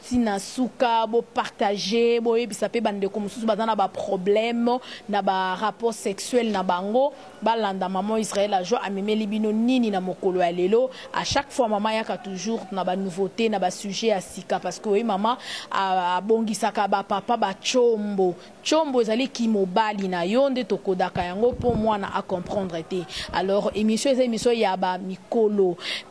ti na suka bo partage boyebisa pe ba ndeko mususu baza na ba problème na ba rapport sexuel na bango balanda maman Israël la joie amemeli bino nini na mokolo ya lelo à chaque fois maman ayaka toujours na ba nouveaute na ba sujet ya sika parce que oyebi maman abongisaka ba papa ba tshombo tshombo ezali ki mobali na yo nde tokodaka yango po mwana a comprendre te alors emission eza emission ya ba mikolo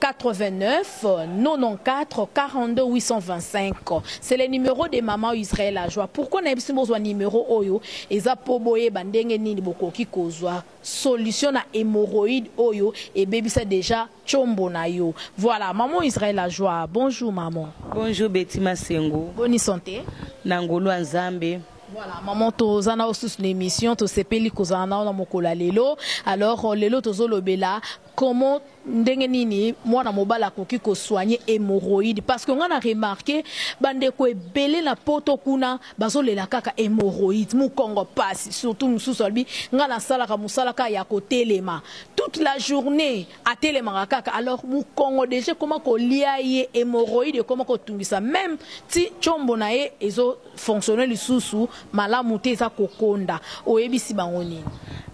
89 94 42 825 c'est le numero de maman Israël Ajua pourquoi nayebi soki bozwa numero oyo eza mpo boyeba ndenge nini bokoki kozwa solution na hémorroïde oyo ebebisa deja tshombo na yo voilà maman Israël Ajua bonjour maman bonjour Betty Masengo boni santé na ngolu ya Nzambe Voilà, maman toza na osusu na émission tosepeli kozala na na mokolo ya lelo alors lelo tozolobela Comment ndenge nini mwana mobali akoki ko soigner hemorroïde parce que nga na remarquer ba ndeko ebele na poto kuna bazo lela kaka hemorroïde mukongo pasi surtout mususu alobi nga na salaka musala kaka ya ko telema toute la journee atelemaka kaka alors mukongo dejà ekoma kolia ye hemorroïde ekoma ko tungisa meme ti tshombo na ye ezo fonctionner lisusu malamu te eza kokonda oyebisi bango nini?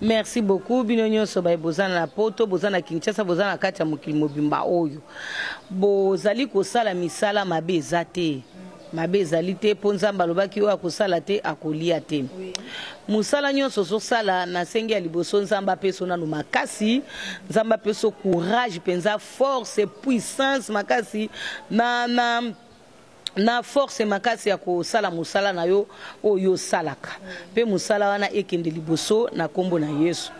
Merci beaucoup bino nyoso baye boza na poto boza na Kinshasa boza na kati ya mokili mobimba oyo bozali kosala misala mabe eza te mabe ezali te mpo Nzambe alobaki oyo akosala te akolia te mosala nyonso ozosala na sengi ya liboso Nzambe apeso nano makasi Nzambe apeso courage mpenza force puissance makasi na, na na force makasi ya kosala mosala na yo oyo yo osalaka, mpe mosala wana ekende liboso na nkombo na Yesu.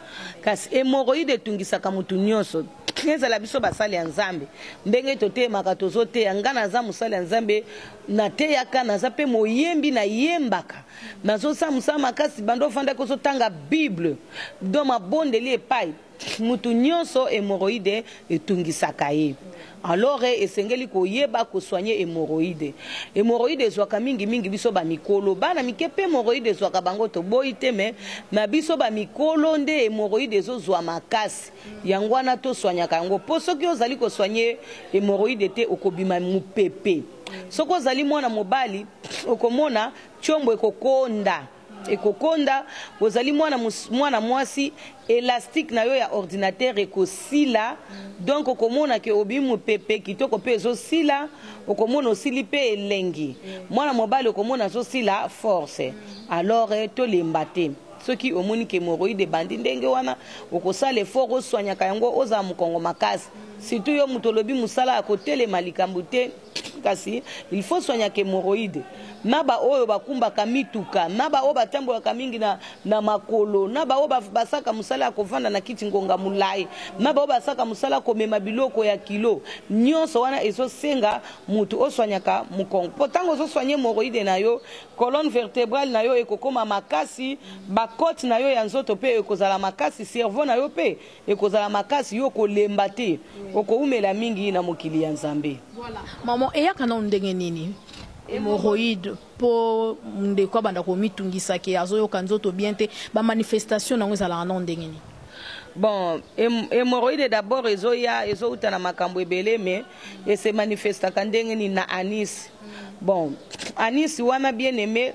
Kasi hemorroïde etungisaka moto nyonso, ezala biso basali ya Nzambe, ndenge totelemaka tozoteya, nga naza mosali ya Nzambe, nateyaka, naza mpe moyembi, nayembaka, nazosala mosala makasi, banda ofandaki ozotanga bible, donc mabondeli epai. Mutu nionso hemorroide etungisaka ye alors esengeli koyeba ko soigner hemorroide. Hemorroide ezwaka mingi mingi biso ba mikolo. Bana mike pe hemorroide ezwaka bango toboyi te mais na biso ba mikolo nde hemorroide ezo zwa makasi. Yango wana to soignaka yango po soki ozali ko soigner hemorroide te okobima mupepe. Soki ozali mwana mobali okomona tshombo ekokonda. Ekokonda, ozali mwana mwana mwasi elastique na yo ya ordinateur ekosila donc okomona ke obimi mupepe kitoko pe ezosila okomona osili pe elengi mwana mobali okomona azosila force alors tolemba te soki omoni ke hemorroïde ebandi ndenge wana okosala effort oswanyaka yango ozala mukongo makasi surtout yo mutu olobi musala ya kotelema likambo te Kasi il faut soignaka hemorroïde na ba oyo bakumbaka mituka na ba oyo batambolaka mingi na, na makolo na ba oyo basaka mosala ya kovanda na kiti ngonga molai na ba oyo basaka mosala komema biloko ya kilo. Nyonso wana ezosenga moto oswanyaka mokongo mpo ntango ozoswanye hemorroïde na yo, colonne vertebrale na yo ekokoma makasi, ba cotes na yo ya nzoto mpe ekozala makasi, cerveau na yo mpe Ekozala makasi yo kolemba te okoumela mingi na mokili ya nzambe. Voilà maman eyaka nanu ndenge nini hemorroïde po ndeko abanda komitungisa ke azoyoka nzoto bien te ba manifestation nango ezalaka nanu ndenge nini. Bon hemorroïde d'abord ezoya ezowuta na makambo ebele mais e se manifestaka ndenge nini na anus bon anus wana bien aime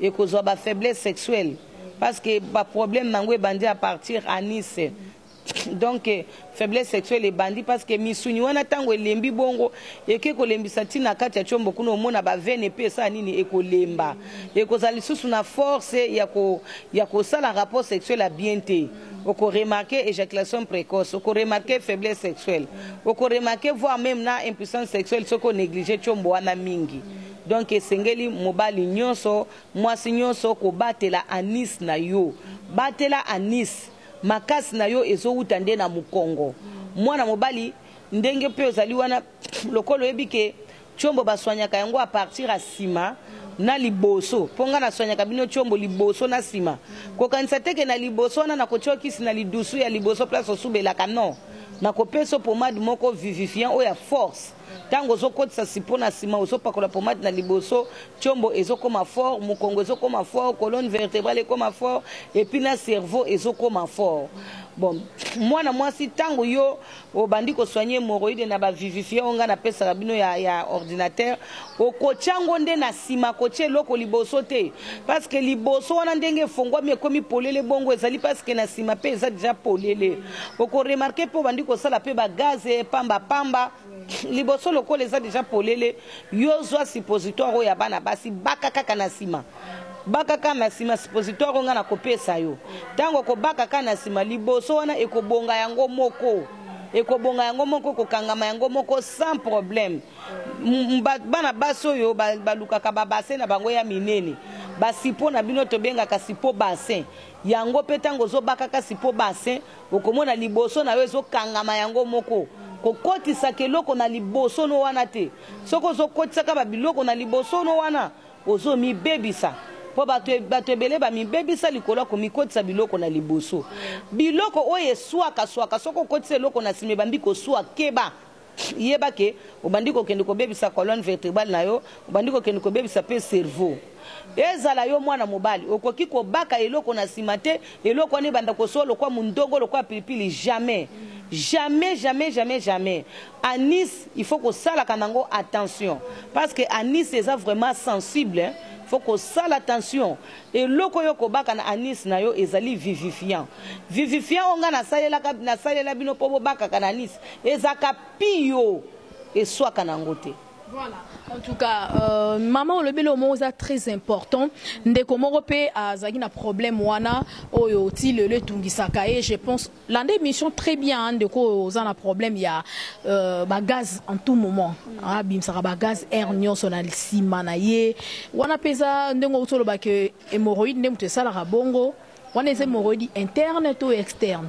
Ekozua ba faiblesse sexuelle parce que ba problème nango ebandi à partir anus donc faiblesse sexuelle ebandi parce que misuni wana tango elembi bongo eke kolembisa ti na kati ya chombo kuna omona ba veine pe esala nini ekolemba ekozala lisusu na force ya ko ya kosala rapport sexuel ya bien te oko remarquer ejaculation précoce oko remarquer faiblesse sexuelle oko remarquer voire même na impuissance sexuelle soki o negliger chombo wana mingi Donc esengeli mobali nionso, mwasi nionso kobatela anus na yo. Batela anus, makasi na yo ezowuta nde na mokongo. Mwana mobali ndenge pe ozali wana lokola oyebi ke tshombo ba soignaka yango à partir ya sima na liboso po nga na soignaka bino tshombo liboso na sima. Kokanisa te ke na liboso wana nakotia yo kisi na lidusu ya liboso place osubelaka non. Nakopesa yo pommade moko vivifiant oyo ya force. tango ozo kotisa sipo na sima ozo pakola pomade na liboso tiombo ezo koma fort mukongo ezo koma fort colonne vertebrale ekoma fort et puis na cerveau ezo koma fort bon mwana mwasi tango yo obandi ko soigner hemorroïde na ba vivifiant nga na pesaka bino ya ya ordinateur Okotia yango nde na sima kotia eloko liboso te parce que liboso wana ndenge efonguami ekomi polele bongo ezali parce que na sima pe eza dejà polele oko remarquer pe obandi kosala pe ba gaz pamba pamba liboso lokola eza dejà polele yo zua suppositoire oyo ya bana basi baka kaka na sima baka kaka na sima suppositoire oyo nga na kopesa yo tango okobaka kaka na sima liboso wana ekobonga yango moko ekobonga yango moko kokangama yango moko sans problème bana basi oyo balukaka babase na bango ya minene basipo na bino tobengaka sipo basin yango mpe ntango ozobakaka sipo basin okomona liboso na yo ezokangama yango moko kokotisaka eloko na liboso no wana te soki ozokotisaka babiloko na liboso no wana ozomibebisa mpo bato ebele bamibebisa likolo ya komikotisa biloko na liboso biloko oyo eswaka swaka soki okotisa eloko na nsima ebambi koswa keba Yeba que obandi kokende kobebisa colonne vertebrale na yo, obandi kokende kobebisa mpe cerveau. Ezala yo mwana mobali, okoki kobaka eloko na sima te, eloko wana ebanda kosowa lokola mundogo, lokola pilipili, jamais! Jamais, jamais, jamais, jamais! Anis, il faut kosalaka nango attention, parce que anis eza vraiment sensible, il faut kosala attention. Eloko yo kobaka na anus na yo ezali vivifiant. Vivifiant oyo nga nasalelaka, nasalela bino po bobakaka na anus ezalaka pio, eswaka na yango te. Voilà en tout cas euh, maman olobi eloko moko eza très important ndeko moko pe azalaki na problème wana oyo ti lelo etungisaka ye je pense Landa emission très bien hein, ndeko oyo oza na problème ya euh, ba gaz en tout moment ah, bimisaka ba gaz air nyonso na sima na ye wana peza ndenge outi oloba ke hémorroïde nde moto esalaka bongo wana eza hémorroïde interne to externe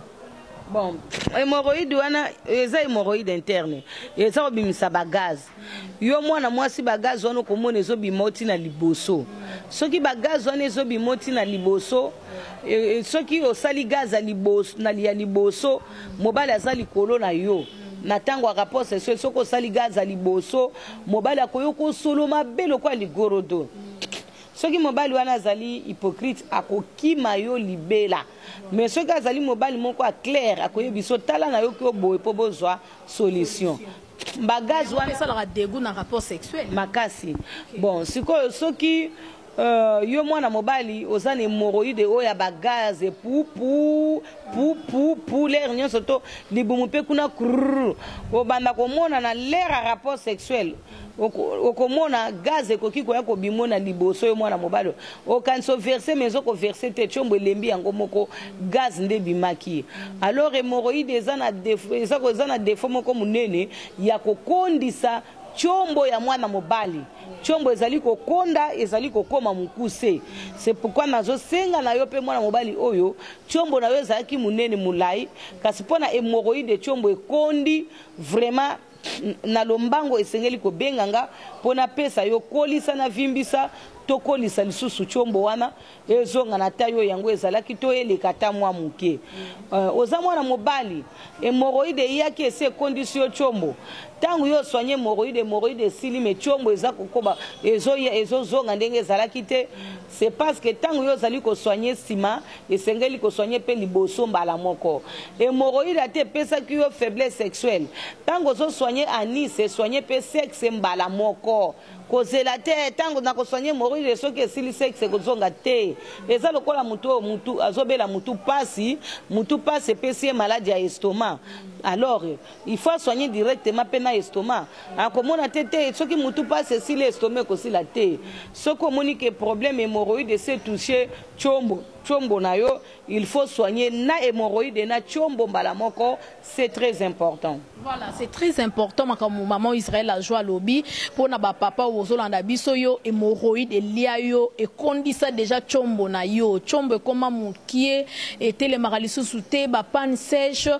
bon hémorroïde wana eza hémorroïde interne eza kobimisa ba gaz Yo mwana mwasi ba gaz wana okomona ezobima oti na liboso. Soki ba gaz wana ezobima oti na liboso, e, e, soki osali gaz ya liboso, na ya liboso, mobali aza likolo na yo. Na tango ya rapport sexuel, soki osali gaz ya liboso, mobali akoyo kosolo mabe lokola ligorodo. Soki mobali wana azali hypocrite, akokima yo libela. Mais soki azali mobali moko a clair, akoyebiso tala na yo kio boye po bozwa solution. Ba gaz wana esalaka degout na rapport sexuel? Makasi bon sikoyo soki euh yo mwana mobali oza na hemorroide oyo ya ba gaz pu pu pu pu pu l'heure nionso to libumu pe kuna krrr obanda komona na l'heure ya rapport sexuel okomona gaz ekoki koya kobimo na liboso yo mwana mobali Okanisa o verser mais oko verser te tshombo elembi yango moko gaz nde ebimaki alors hemorroïde eza na defaut eza ko eza na defaut moko munene ya ko kondisa tshombo ya mwana mobali tshombo ezali ko konda ezali ko koma mukuse c'est pourquoi nazo senga na yo pe mwana mobali oyo tshombo na yo ezalaki munene mulayi kasi pona hemorroïde tshombo ekondi vraiment Na lombango esengeli kobenga nga po na pesa yo kolisa na vimbisa to kolisa lisusu tshombo wana ezonga na taille oyo yango ezalaki to eleka ata mwa moke. Euh oza mwana mobali hemorroide eyaki esi ekondisi yo tshombo tango yo oswanye hemorroide hemorroide esili mais tshombo eza kokoba ezoya ezozonga ndenge ezalaki te. C'est parce que tango yo ozali ko soigner sima, esengeli ko soigner pe liboso mbala moko. Hemorroïde ata epesaki yo faiblesse sexuelle, tango ozo soigner anus, soigner pe sexe mbala moko. Kozela te, eh tango nako soigner hemorroïde soki esili sexe ekozonga te. Eza lokola moto oyo mutu, azo bela mutu pasi, mutu pasi epesi ye malade ya estomac, alors, Il faut a soigner directement pe na estomac. Akomona te te soki mutu pasi esili estomac ekosila te. Soki omoni que problème hemorroïde esi etouche tshombo, tshombo na yo, il faut soigner na hemorroïde et na tshombo mbala moko, c'est très important. Voilà c'est très important makambo maman Israël Ajo alobi pona ba papa oyo ozolanda biso yo hemorroïde elia yo ekondisa deja tshombo na yo tshombo ekoma mukie etelemaka lisusu te ba panne sèche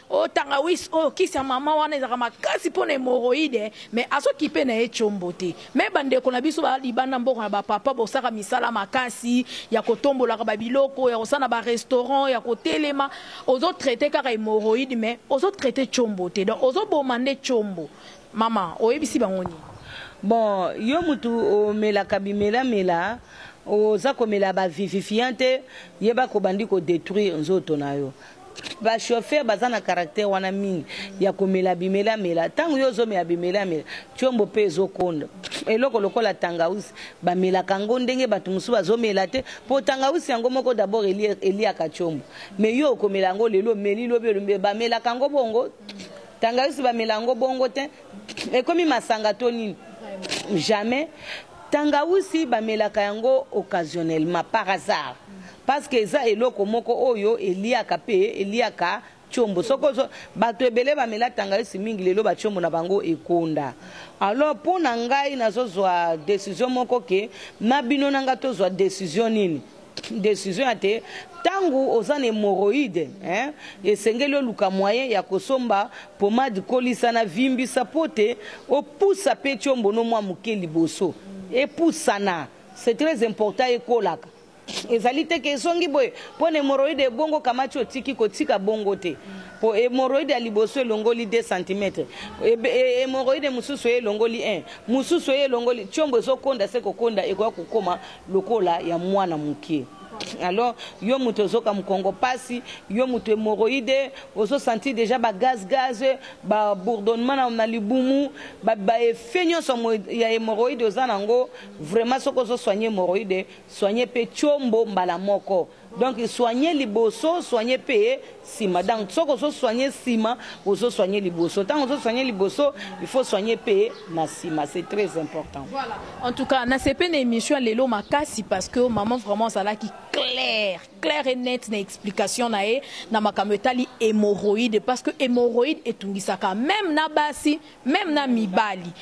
O tangawis oyo kisi ya maman wana ezalaka makasi pona hemorroide mais azo kipe naye tshombo te meme ba ndeko na biso ba libanda mboka na ba papa bosaka misala makasi ya ko tombolaka ba biloko ya kosala na ba restaurant ya ko telema ozo traite kaka hemorroide mais ozo traite tshombo te donc ozo boma nde tshombo maman oyebisi bango nini? Bon yo mutu omelaka bimela mela oza komela ba vivifiant te yebaka obandi ko detruire nzoto nayo. Ba chauffeur baza na caractère wana mingi ya komela bimela mela tango yo ozomela bimela mela tshombo pe ezokonda eloko lokola tangawisi bamelaka ngo ndenge batu mosusu bazomela te po tangawisi yango moko d'abord eliaka tshombo mais yo okomela yango lelo omeli lobi olombi bamelaka ngo bongo tangawisi bamela yango bongo te Ekomi masanga to nini? Jamais. Tangawusi bamelaka yango occasionnellement, par hasard. Parce que eza eloko moko oyo eliaka pe eliaka tshombo. Soki ozo batu ebele bamela tangawisi mingi lelo ba tshombo na bango ekonda. Alors pona ngai nazo zua decision moko que na bino na ngai tozua decision nini? Decision ya te tangu oza na hemorroïde hein esengeli oluka moyen ya kosomba pommade kolisa na vimbisa po te opusa pe tshombo no mua muke liboso epusana c'est très important ekolaka ezali te ke ezongi boye po na hemorroïde ebongo kamati otiki kotika bongo te po hemorroïde ya liboso elongoli deux centimetre hemorroïde mususu eye elongoli un mususu eye elongoli tshombo ezokonda se kokonda ekoya kokoma lokola ya mwana mukie alors yo mutu ozoka mukongo pasi yo mutu hemorroide ozo sentir dejà ba gaz gaz ba bourdonnement na, na libumu ba, ba effet nyonso ya hemorroide oza nango vraiment soki ozo soigner hemorroide soigner pe chombo mbala moko Donc soigner liboso soigner pe sima donc soki ozo soigner sima ozo soigner liboso tango ozo soigner liboso il faut soigner pe na sima c'est très important. Voilà en tout cas na sepe na emission ya lelo makasi parce que maman vraiment azalaki claire claire et nette na explication na ye na makambo etali hémorroïde parce que hémorroïde etungisaka même na basi même na mibali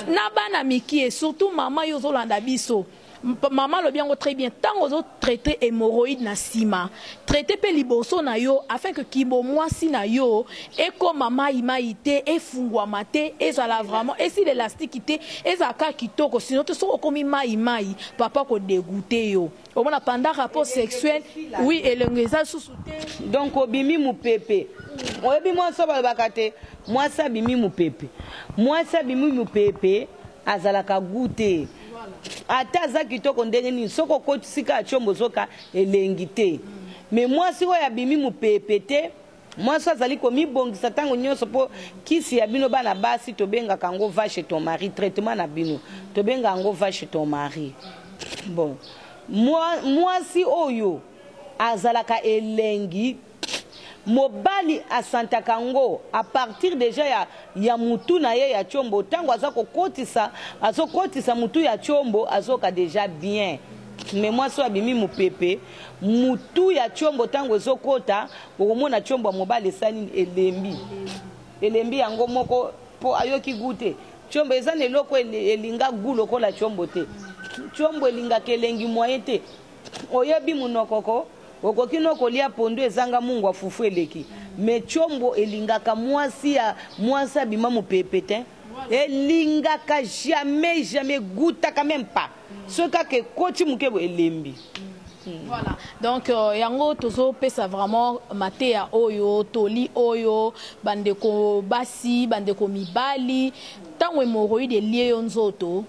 na bana mikie surtout maman yo ozolanda biso Maman alobi yango très bien tango ozo traite hemorroïde na sima traite pe liboso na yo afin que kibo muasi na yo ekoma mayi mayi te efunguama te ezala vraiment esila elastique te ezala kaka kitoko sinon te soki okomi mayi mayi papa ako degoute yo omona pendant rapport sexuel oui elengi eza lisusu te donc obimi mupepe oyebi muasi oyo balobaka te muasi abimi mupepe muasi abimi mupepe azalaka gout te. Ata aza kitoko ndenge nini soki okotisi kaka tshombo zoka elengi te. Mais mwasi oyo abimi mupepe te, mwasi oyo azali komibongisa tango nionso po kisi ya bino bana basi tobengaka yango va chez ton mari, traitement na bino tobengaka yango va chez ton mari. Bon, mwasi oyo azalaka elengi. Mobali asantaka ngo a partir dejà ya ya mutu na ye ya tshombo tangu aza ko kotisa azo kotisa mutu ya tshombo azoyoka dejà bien mais mwasi oyo abimi mupepe mutu ya tshombo tangu ezo kota okomona tshombo ya mobali esali nini elembi elembi yango moko po ayoki gout te tshombo eza na eloko elinga gout lokola tshombo te tshombo elingaka elengi moyen te Oyebi munoko ko okoki no kolia pondu ezanga mungwa fufu eleki mais tshombo elingaka muasi ya muasi abima mupepe tein elingaka jamais jamais egoutaka meme pas soki kaka ekoti muke boye elembi Hmm. Voilà. Donc euh, yango tozo pesa vraiment mateya oyo toli oyo bandeko basi bandeko mibali ntango hémorroïde elie yo nzoto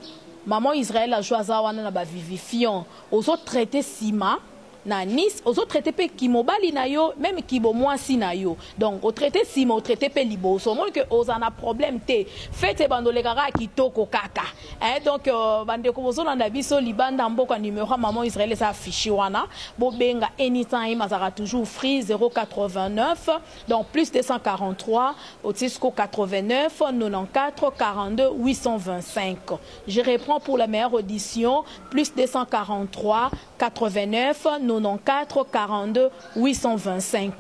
maman Israël ajoa aza wana na ba vivifiant Ozo traite sima na nice ozo traite pe ki mobali na yo meme ki bo muasi na yo donc o traite sima o traite pe liboso omoni que oza na problème te fete ebanda oleka kaka kitoko kaka eeh donc ba ndeko bozo landa biso libanda mboka numero ya maman Israël eza affiche wana bo benga anytime azalaka toujours free 089 donc plus 243 otie sikoyo 89 94 42 825. Je reprends pour la meilleure audition plus 243 89 94 42 825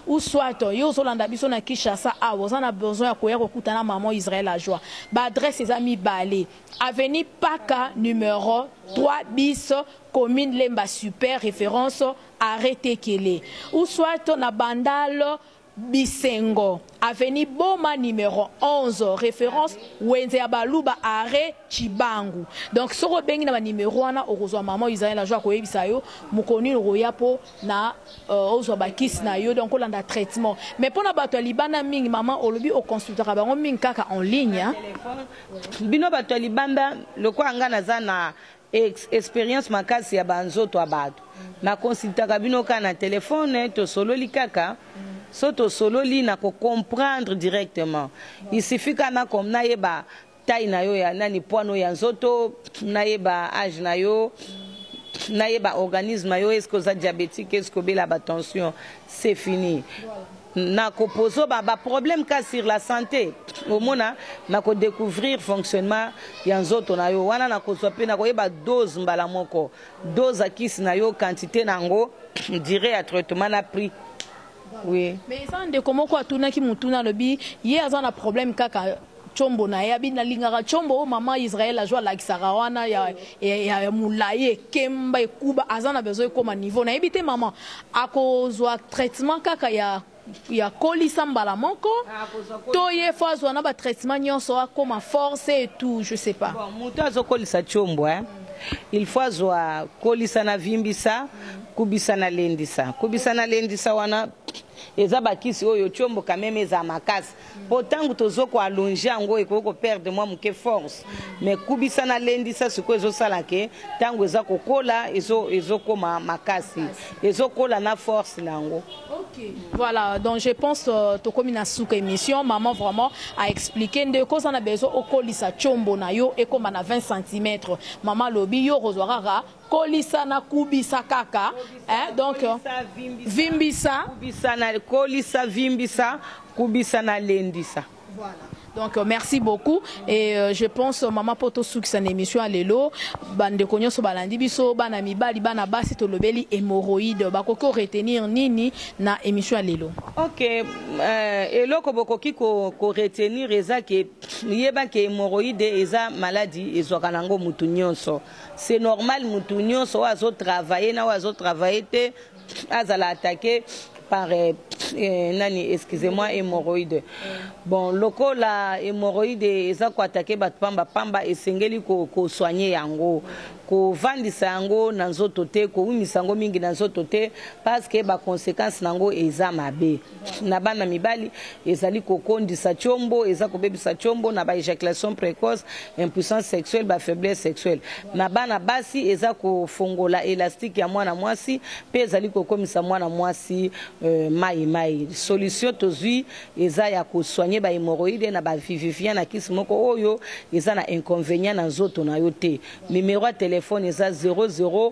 ou soit yo ozolanda biso na Kinshasa awa oza na besoin ya koya kokuta na maman Israël la joie ba adresse eza mibale avenue Paka numero 3 bis commune Lemba super reference arret Tekele ou soit na bandal Bisengo avenue boma numero 11 reference wenze ya baluba arret tshibangu donc soki obengi na ba numero wana okozua maman Israel ajo akoyebisa yo mokolo nini okoya po na ozua ba kisi na yo donc olanda traitement mais pona batu ya libanda mingi maman olobi o consultaka bango mingi kaka en ligne. Bino batu ya libanda lokola nga naza na Ex, Experience makasi ya ba nzoto ya batu. Na consultaka bino kaka na telephone, tosololi kaka. Soki tosololi nako comprendre directement. Il suffit kaka na com, nayeba taille na yo ya nani, poids no ya nzoto, nayeba age na yo, nayeba organisme na yo, est ce que oza diabetique, est ce que obela ba tension. c'est fini nako pozo ba ba problème ka sur la santé omona nako découvrir fonctionnement ya nzoto na yo wana nako zwa pe nako yeba dose mbala moko dose ya kisi na yo quantité na yango durée ya traitement na prix oui mais eza ndeko moko atunaki mutuna alobi ye aza na problème kaka Tshombo naye abi nalingaka tshombo oyo maman Israël azo alakisaka wana ya ya ya mulayi ekemba ekuba aza na besoin ekoma niveau nayebi te maman ako zua traitement kaka ya ya kolisa mbala moko to ye faut azua na ba traitement nionso akoma force et tout je sais pas. Bon mutu azo kolisa tshombo hein il faut azua kolisa na vimbisa kubisa na lendisa kubisa na lendisa wana eza ba kisi oyo tshombo quand meme eza makasi po tangu tozo ko allonger yango ekoki ko perdre mwa muke force mais kubisa na lendisa sikoyo ezo sala ke tangu eza ko kola ezo ezo koma makasi ezo kola na force na yango Okay. Voilà, donc je pense euh, tokomi na suka émission, maman vraiment a expliqué nde koza na besoin okolisa chombo na yo ekoma na 20 cm. Maman lobi yo kozwa kaka Kolisa na kubisa kaka eh, donc vimbisa, kubisa na kolisa, vimbisa, kubisa na lendisa. Voilà. Donc euh, merci beaucoup et euh, je pense euh, maman poto sukisa na émission ya lelo bandeko nyonso balandi biso bana mibali bana basi tolobeli hémorroïde bakoki koretenir nini na émission ya lelo ok euh, eloko bokoki koretenir ko eza ke yeba ke hémorroïde eza maladi ezwaka nango motu nyonso C'est normal mutu nionso oyo azo travailler na oyo azo travailler te azala attaquer par eh, eh, nani excusez-moi hémorroïde bon lokola hémorroïde eza ko attaquer bato pamba pamba esengeli ko, ko soigner yango kovandisa yango na nzoto te koumisa yango mingi na nzoto te parce que ba conséquences na yango eza mabe na bana mibali ezali kokondisa tshombo eza kobebisa tshombo na ba ejaculation précoce impuissance sexuelle ba faiblesse sexuelle na bana basi eza kofongola elastique ya mwana mwasi mpe ezali kokomisa mwana mwasi euh, mai mai solution tozwi eza ya kosoigne ba hemorroïde na ba vivivien na kisi moko oyo eza na inconvénient na nzoto na yo te numero ya telefone eza 00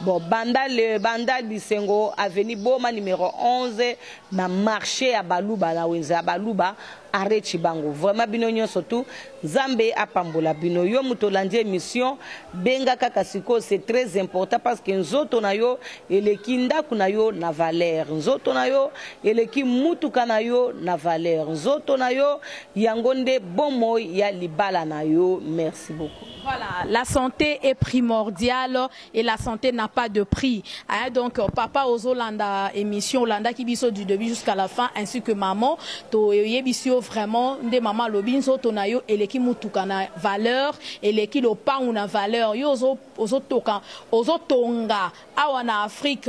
Bo banda le bandal bisengo avenue boma numero 11 na marche ya baluba na wenze ya baluba arret tshibangu vraiment bino nionso tout nzambe apambola bino yo moto olandi emission benga kaka sikoyo c'est très important parce que nzoto na yo eleki ndaku na yo na valeur nzoto na yo eleki mutuka na yo na valeur nzoto na yo yango nde bomoi ya libala na yo merci beaucoup Voilà la sante est primordiale et la sante n'a pas de prix hein donc papa ozo landa emission olandaki biso du debut jusqu'à la fin ainsi que maman to yebisi yo vraiment nde maman alobi nzoto na yo eleki mutuka na valeur eleki lopangu na valeur yo ozo ozo toka ozo tonga awa na Afrique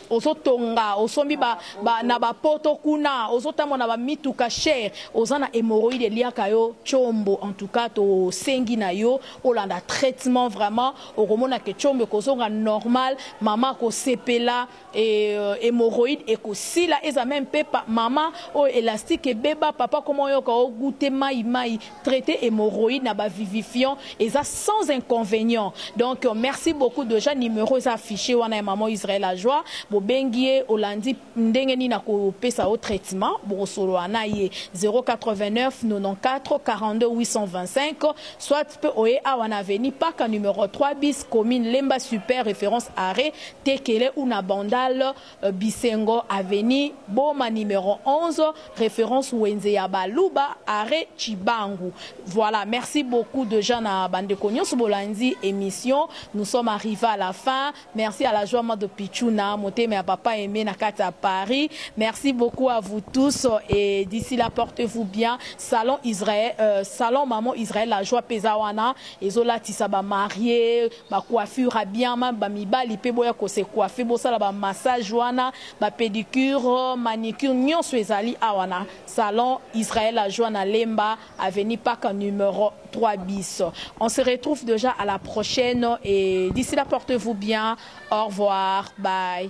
ozo tonga osombi ba, ba na ba poto kuna ozo tambola na ba mituka cher oza na hemorroïde eliaka yo tshombo en tout cas to sengi na yo olanda traitement vraiment okomona ke tshombo ekozonga normal mama akosepela et euh, hemorroïde ekosila eza meme pepa mama oyo elastique ebeba papa koma oyoka ogute mai mai Traite hemorroïde na ba vivifiant eza sans inconvenient donc merci beaucoup dejà numero eza affiche wana ya maman Israël la joie bobengi ye olandi ndenge nini ako pesa yo traitement bokosolola na ye 08994242825 soit pe oye awa na avenue paka numero 3 bis commune lemba super reference arret tekele ou na bandal Bisengo avenue boma numero 11 reference wenze ya ba luba arret tshibangu voila merci beaucoup dejà na ba ndeko nionso bolandi emission nous sommes arrive à la fin merci à la joie mado pitshuna motema ya papa aime na kati ya paris merci beaucoup à vous tous et d'ici là porte vous bien salon israel euh, salon maman israel la joie peza wana ezolatisa ba marie Ba coiffure ya bien meme ba mibali pe boya ko se coiffer bosala ba massage wana ba pedicure manicure nionso ezali awa na salon Israël la joie na lemba avenue paka numero trois bis on se retrouve dejà à la prochaine et d'ici là portez vous bien au revoir bye.